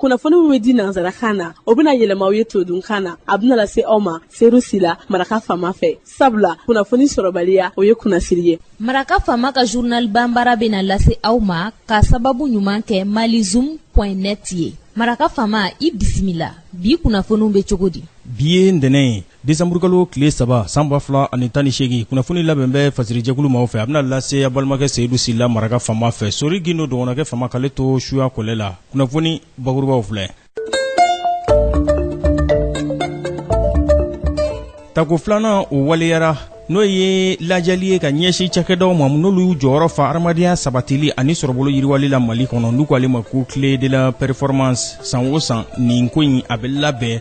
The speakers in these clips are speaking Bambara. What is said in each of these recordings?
kunnafoni min bɛ di nansarakan na o bɛna yɛlɛma aw ye todunkan na a bɛna lase aw ma seyidu sila maraka faama fɛ sabula kunnafoni sɔrɔbaliya o ye kunnasiri ye maraka faama ka journal banbara bɛna lase aw ma ka sababu ɲuman kɛ malizoom net ye maraka faama i bisimila bi kunnafoniw bɛ cogo di bi ye ntɛnɛn ye desanburukalo tile saba san ba fila ani tan ni seegin kunnafoni labɛn bɛ fasirijɛkulu maaw fɛ a bɛna lase a balimakɛ seyidu sila maraka faama fɛ sori gindo dɔgɔnɔkɛ faama k'ale to suya kɔlɛ la kunnafoni bakurubaw filɛ tako filanan o waleyara n'o ye lajali ye ka ɲɛsin cakɛdaw ma n'olu y'u jɔyɔrɔ fa hadamadenya sabatili ani sɔrɔbolo yiriwali la mali kɔnɔ n'u k'ale ma ko clé de la performance san o san nin ko in a bɛ labɛn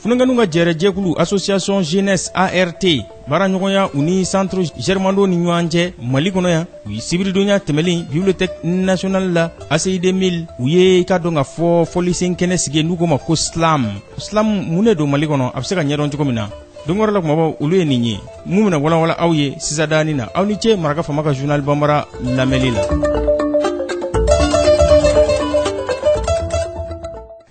funankɛninw ka jɛrɛjɛkulu association jeunesse art baaraɲɔgɔnya u ni centre germando ni ɲɔgɔn cɛ mali kɔnɔ yan u ye sibiridonya tɛmɛlen bibliothèque nationale la ACI 2000 u ye i ka dɔn k'a fɔ fɔlisen kɛnɛ sigi n'u ko ma ko slam slam mun de don mali kɔnɔ a bɛ se k'a ɲɛdɔn cogo min na don wɛrɛ la kumabaw olu ye nin ye min bɛna walawala aw ye sisan danin na aw ni ce maraka faama ka journal banbara lamɛnni la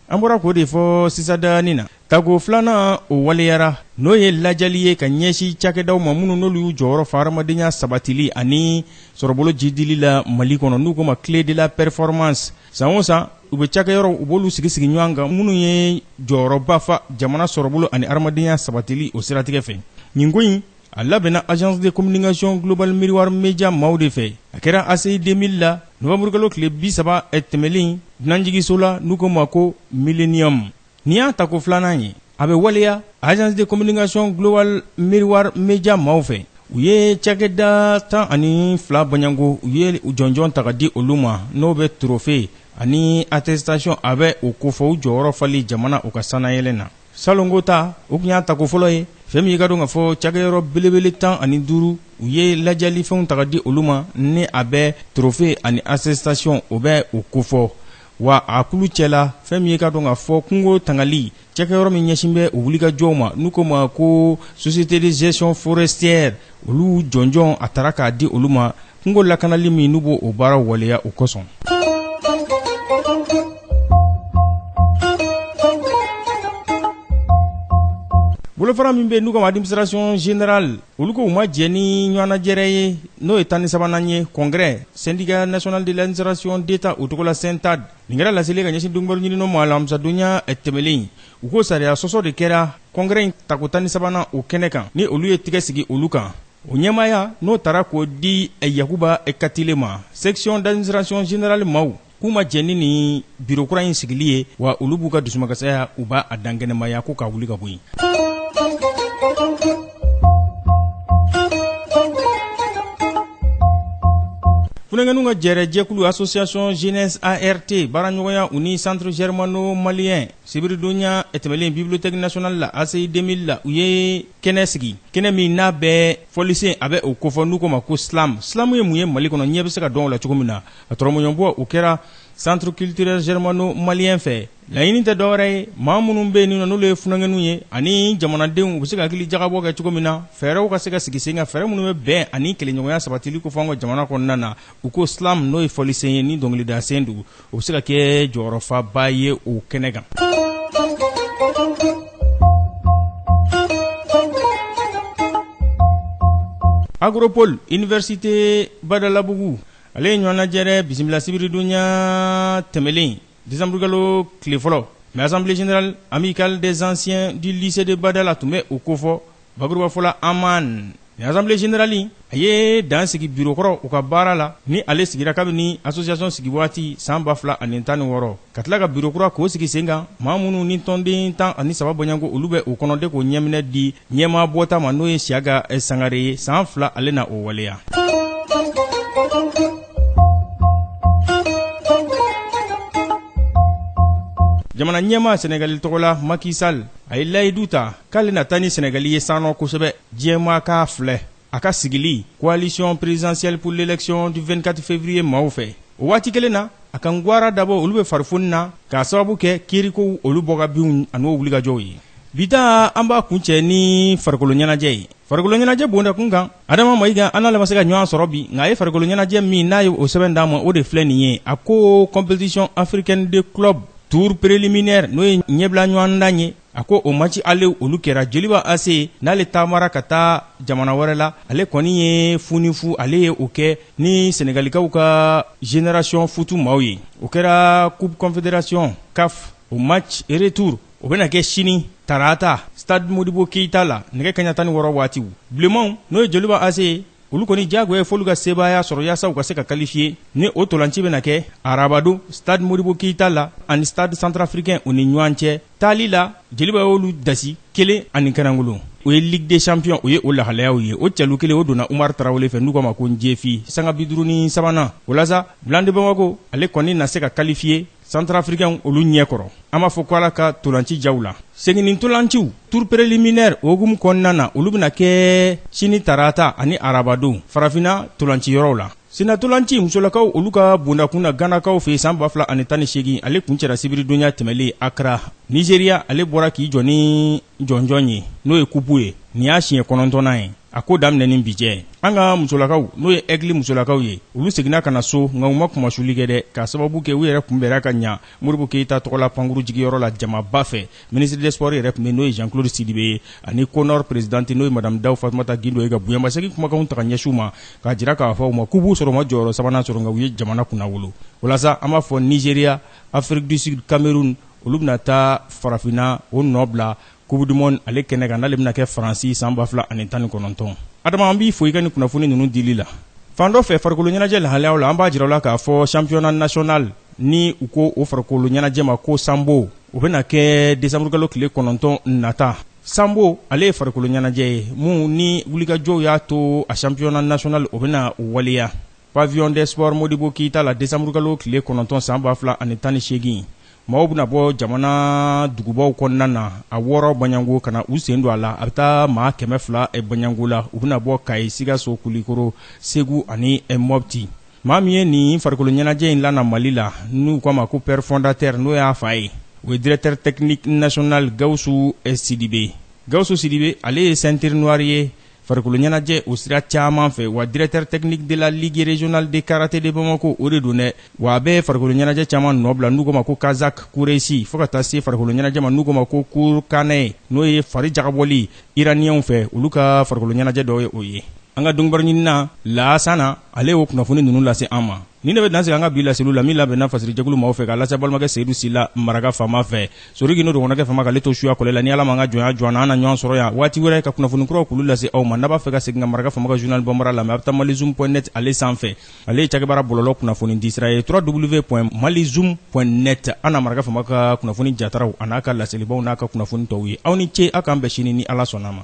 an bɔra k'o de fɔ sisan danin na tako filanan o waleyara n'o ye lajali ye ka ɲɛsin cakɛdaw ma minnu n'olu y'u jɔyɔrɔ fa hadamadenya sabatili ani sɔrɔbolo jiidili la mali kɔnɔ n'u ko ma clé de la performance san o san u bɛ cakɛyɔrɔw u b'olu sigi sigi ɲɔgɔn kan minnu ye jɔyɔrɔba fa jamana sɔrɔbolo ani hadamadenya sabatili o siratigɛ fɛ nin ko in a labɛnna agence de communication global miroir media maaw de fɛ a kɛra ACI 2000 la novanburukalo tile bi saba tɛmɛlen dunanjigiso la n'u ko ma ko millennium nin y'a tako filanan ye a bɛ waleya agence de communication global miroir media maaw fɛ u ye cakɛda tan ani fila bɔ ɲinan ko u ye jɔnjɔn ta k'a di olu ma n'o bɛ trophée ani attestation a bɛ o kofɔ u jɔyɔrɔ fali jamana u ka sannayɛlɛn na salon ko ta o tun y'a tako fɔlɔ ye fɛn min ye k'a dɔn k'a fɔ cakɛyɔrɔ belebele tan ani duuru u ye lajalifɛnw ta k'a di olu ma ni a bɛ trophée ani attestation o bɛ o kofɔ wa a kulu cɛ la fɛn min ye k'a dɔn k'a fɔ kungo tangali cakɛyɔrɔ min ɲɛsin bɛ o wulikajɔw ma n'u ko ma ko société de gestion forestière olu jɔnjɔn a tara k'a di olu ma kungo lakanali min n'u b'o baara waleya o kosɔn bolofara min bɛ n'u k'a ma administration générale olu ko u ma jɛ nin ɲɔgɔnnajɛrɛ ye n'o ye tan ni sabanan ye congrès syndicat national de l'administration d'état o tɔgɔ la syntade nin kɛra laseli ka ɲɛsin dɔnkibaru ɲininnaw ma alamisadonya tɛmɛlen u ko sariya sɔsɔ de kɛra congrès in tako tan ni sabanan o kɛnɛ kan ni olu ye tigɛ sigi olu kan o ɲɛmaaya n'o tara k'o di yakuba katile ma section d'administration générale maaw k'u ma jɛn ni nin biro kura in sigili ye wa olu b'u ka dusumakasaya u b'a dankɛnɛmaya ko k'a wuli ka bɔ yen funankɛninw ka jɛrɛ jɛkulu association jeunesse art baaraɲɔgɔnya u ni centre germano malien sibiridonya tɛmɛlen bibliothèque nationale la ACI 2000 la u ye kɛnɛ sigi kɛnɛ min n'a bɛ fɔlisen a bɛ o kofɔ n'u k'o ma ko slam slam ye mun ye mali kɔnɔ ɲɛ bɛ se ka dɔn o la cogo min na a tɔrɔmɔɲɔbɔ o kɛra centre culturel germano malien fɛ laɲini tɛ dɔwɛrɛ ye maa minnu bɛ yen ninɔ n'olu ye funankɛninw ye ani jamanadenw u bɛ se ka hakili jagabɔ kɛ cogo min na fɛɛrɛw ka se ka sigi sen kan fɛɛrɛ minnu bɛ bɛn ani kelenɲɔgɔnya sabatili kofɔ an ka jamana kɔnɔna na u ko slam n'o ye fɔlisen ye ni dɔnkilidasen don o bɛ se ka kɛ jɔyɔrɔfaba ye o kɛnɛ kan acropole université badalabugu ale ye ɲɔgɔnnajɛrɛ bisimila sibiridonya tɛmɛlen desanburukalo tile fɔlɔ mais assemblée générale amicale des anciens du lycée de badala tun bɛ o kofɔ Bakurubafɔ la amanin assemblée générale a ye dan sigi biro kɔrɔ u ka baara la ni ale sigira kabini association sigi waati san ba fila ani tan ni wɔɔrɔ ka tila ka biro kura k'o sigi sen kan maa minnu ni tɔnden tan ani saba bɔɲɔgɔnko olu bɛ o kɔnɔ de k'o ɲɛminɛ di ɲɛmaa bɔta ma n'o ye siyaka sangare ye san fila ale na o waleya jamana ɲɛmaa sɛnɛgali tɔgɔ la maki sali a ye layidu ta k'ale na taa ni sɛnɛgali ye sannɔ kosɛbɛ diɲɛmaa k'a filɛ a ka sigili coalition présidentielle pour l'élection du 24 février maaw fɛ o waati kelen na a ka ngwara dabɔ olu bɛ farifoni na k'a sababu kɛ kiirikow olu bɔgabinw an'o wulikajɔw ye bi ta an b'a kuncɛ ni farikolo ɲɛnajɛ ye farikolo ɲɛnajɛ bondakun kan adama mayiga an n'ale ma se ka ɲɔgɔn sɔrɔ bi nka a ye farikolo ɲɛnajɛ min n'a ye o sɛbɛn d'an ma o de filɛ nin ye a ko compétition africaine de club tour préliminaire n'o ye ɲɛbila ɲɔgɔndan ye a ko o maci ale olu kɛra joliba ase n'ale taamara ka taa jamana wɛrɛ la ale kɔni ye fu ni fu ale ye o kɛ ni senegalikaw ka generasiyɔn futu maaw ye o kɛra coupe confédération caf o match retour o bɛna kɛ sini tarata stade modibo keyita la nɛgɛ kaɲa tan ni wɔɔrɔ waatiw bilenmanw n'o ye joliba ase ye olu kɔni diyagoya ye f'olu ka sebaaya sɔrɔ yaasa u ka se ka kalifiye ni o ntolaci bɛna kɛ arabadon stade modibo keyita la ani stade centrafricain u ni ɲɔgɔn cɛ taali la jeliba y'olu dasi kelen ani kɛnɛkolon o ye ligue des champions o ye o lahalayaw ye o cɛlu kelen o donna umar tarawele fɛ n'u k'a ma ko njefi sanga bi duuru ni sabanan o la sa blancs de bamako ale kɔni na se ka kalifiye santarafirikɛnw olu ɲɛ kɔrɔ an b'a fɔ ko ala ka tolanci jaw la seginni ntolanciw tour preliminaire o hukumu kɔnɔna na olu bɛna kɛ sini tarata ani arabadon farafina tolanciyɔrɔw la Sennatolanci musolakaw olu ka bondakun na Ganakaw fɛ san 2018, ale kuncɛra sibiridonya tɛmɛnen Accra, Nigeria, ale bɔra k'i jɔ ni jɔnjɔn ye n'o ye kupu ye, nin y'a siɲɛ kɔnɔntɔnnan ye a ko daminɛ ni bi cɛ. An ka musolakaw n'o ye Aigle musolakaw ye, olu seginna ka na so nka u ma kunmasuli kɛ dɛ, k'a sababu kɛ u yɛrɛ kunbɛnna ka ɲɛ. modibo keyita tɔgɔla pankuru jigiyɔrɔ la jamaba fɛ minisiri des sports yɛrɛ tun bɛ n'o ye jean claude sidibe ye ani conor presidente n'o ye madame daw fatumata gindo ye ka bonyamasegin kumakanw ta ka ɲɛsin u ma k'a jira k'a fɔ u ma k'u b'u sɔrɔ u ma jɔyɔrɔ sabanan sɔrɔ nka u ye jamana kunnawolo o la sa an b'a fɔ nizeriya afiriki du sud cameroun olu bɛna taa farafina o nɔ bila coupe du monde ale kɛnɛ kan n'ale bɛna kɛ faransi san 2019 adama an b'i fo i ka nin kunnafoni ninnu dili la fan dɔ fɛ farikolo ɲɛnajɛ lahalayaw la an b'a jira aw la k'a fɔ championnat national ni u ko o farikolo ɲɛnajɛ ma ko sanbo o bɛna kɛ desanburukalo tile kɔnɔntɔn nata sanbo ale ye farikolo ɲɛnajɛ ye min ni wulikajɔw y'a to a championnat national o bɛna waleya pavillon des sports modibo keyita la desanburukalo tile kɔnɔntɔn san ba fila ani tan ni seegin maaw bɛna bɔ jamana dugubaw kɔnɔna na a wɔɔrɔ baɲango ka na u sen don a la a bɛ taa maa kɛmɛ fila eh, baɲango la u bɛna bɔ kayi sikaso kulikoro segu ani eh, mɔpti maa min ye nin farikolo ɲɛnajɛ in lana mali la n'u k'a ma ko pɛr fondatɛr n'o y'a fa ye o ye directɛr tɛkiniki nasional gawusu eh, sidibe gawusu sidibe ale ye sɛntiri nuwari ye farikoloɲɛnajɛ o sira caman fɛ wa directeur technique de la ligue régionale de karaté de bamako o de don dɛ wa a bɛ farikoloɲɛnajɛ caman nɔ bila n'u ko ma ko kazak kuresi fo ka taa se farikoloɲɛnajɛ ma n'u ko ma ko kurkanɛ n'o ye fari jagabɔli iraniyɛnw fɛ olu ka farikoloɲɛnajɛ dɔ ye o ye an ka dɔnkibaruɲinina laasana ale y'o kunnafoni ninnu lase an ma Nin de bɛ dan sigi an ka bi laseliw la min labɛnna fasirijɛkulu maaw fɛ k'a lase balimakɛ Seyidu Sila maraka fama fɛ. Sori k'i n'o dɔgɔnɔkɛ fama k'ale to suya kɔlɛ la. Ni Ala ma an ka jɔnya jɔ an na, an na ɲɔgɔn sɔrɔ yan waati wɛrɛ ka kunnafoni kuraw k'olu lase aw ma. N'a b'a fɛ ka segin ka maraka fama ka journal bambara lamɛn, a bɛ taa malizoom point net ale san fɛ. Ale ye cakɛbaara bɔlɔlɔ kunnafoni di sira ye www.malizoom.net. A na maraka fama ka kunnafoni jataraw an'a ka laselibaw n'a ka kunnafoni tɔw ye. Aw ni ce, aw k'an bɛn sini ni Ala sɔnna a ma.